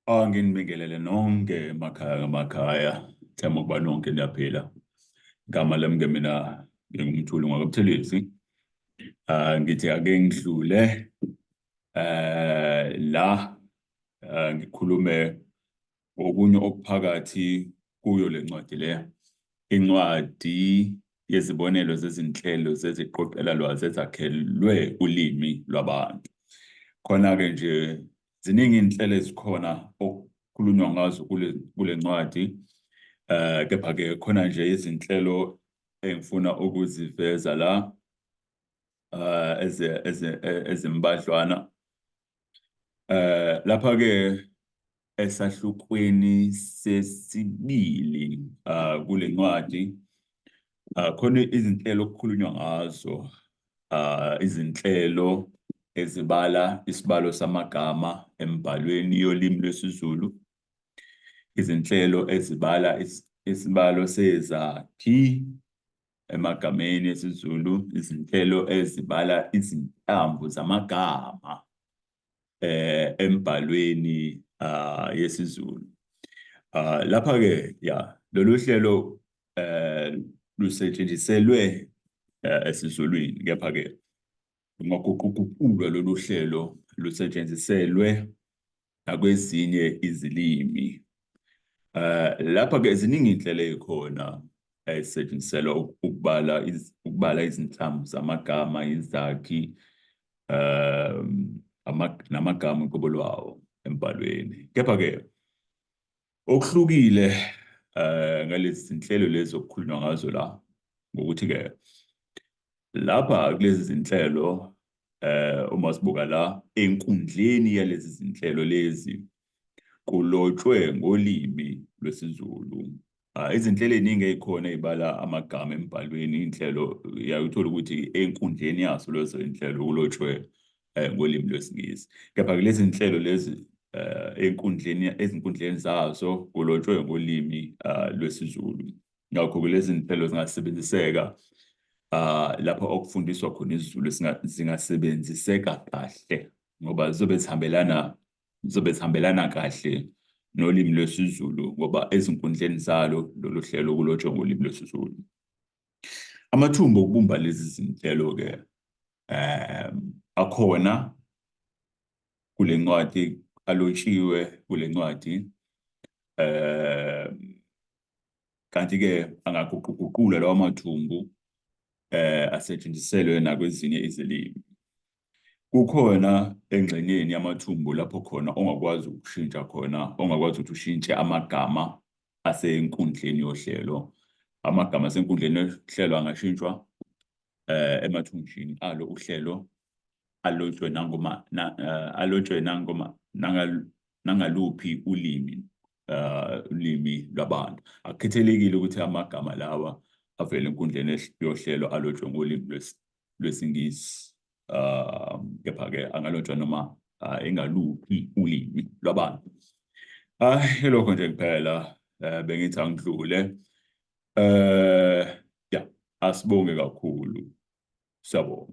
Ah, nginibingelele nonke emakhaya ngamakhaya themba ukuba nonke niyaphila igama lami ke mina ngingumthuli ngwakabuthelezi um ngithi ake ngidlule um la um ngikhulume Okunye okuphakathi kuyo le ncwadi le, incwadi yezibonelo zezinhlelo zeziqoqelalwazi ezakhelwe ulimi lwabantu. Khona-ke nje ziningi iy'nhlelo ezikhona okukhulunywa ngazo kule, kule ncwadi um kepha-ke khona nje izinhlelo engifuna ukuziveza la uh, ezimbadlwana eh lapha ke esahlukweni sesibili ah, kule ncwadi ah, khona izinhlelo okukhulunywa ngazo ah, izinhlelo ezibala isibalo samagama embhalweni yolimi lwesiZulu izinhlelo ezibala isibalo sezakhi emagameni esiZulu izinhlelo ezibala izinhlamvu zamagama eh embhalweni ah, yesiZulu ah, lapha ke ya lolu hlelo eh lusetshenziselwe eh, esiZulwini kepha ke Lungaguquguqulwa lolu hlelo lusetshenziselwe nakwezinye izilimi. Um lapha-ke ziningi iy'nhlelo ey'khona ezisetshenziselwa ukubala ukubala izinhlamvu zamagama, izakhi, um namagama uqobo lwawo embhalweni. Kepha-ke Okuhlukile eh ngalezi zinhlelo lezi okukhulunywa ngazo la ngokuthi ke lapha kulezi zinhlelo eh uma sibuka la enkundleni yalezi zinhlelo lezi kulotshwe ngolimi lwesiZulu ah, izinhlelo eziningi ezikhona ezibala amagama embhalweni inhlelo uyayithola ukuthi enkundleni yaso lezo inhlelo kulotshwe eh, ngolimi lwesiNgisi kepha kulezi nhlelo lezi eh, enkundleni ezinkundleni zazo kulotshwe ngolimi eh, lwesiZulu ngakho kulezi nhlelo zingasebenziseka ah, lapho okufundiswa khona isiZulu singa- zingasebenziseka kahle ngoba zizobe zihambelana zizobe zihambelana kahle nolimi lwesiZulu ngoba ezinkundleni zalo lolu hlelo kulotshwe ngolimi lwesiZulu Amathumba okubumba lezi zinhlelo-ke um akhona kule ncwadi alotshiwe kule ncwadi um kanti-ke angaguquguqula lawa mathumbu um asetshenziselwe nakwezinye izilimi. Kukhona engxenyeni yamathumbu lapho khona ongakwazi ukushintsha khona, ongakwazi ukuthi ushintshe amagama asenkundleni yohlelo. Amagama asenkundleni yohlelo angashintshwa eh, emathunjini alo uhlelo alotshwe nangoma na, uh, alotshwe nangoma nangal, nangaluphi ulimi uh, ulimi lwabantu akukhethelekile ukuthi amagama lawa avele enkundleni yohlelo alotshwe ngolimi lwesiNgisi um kepha-ke angalotshwa noma uh, engaluphi ulimi lwabantu hayi ah, ilokho nje kuphela um bengithi angidlule um ya asibonge kakhulu siyabonga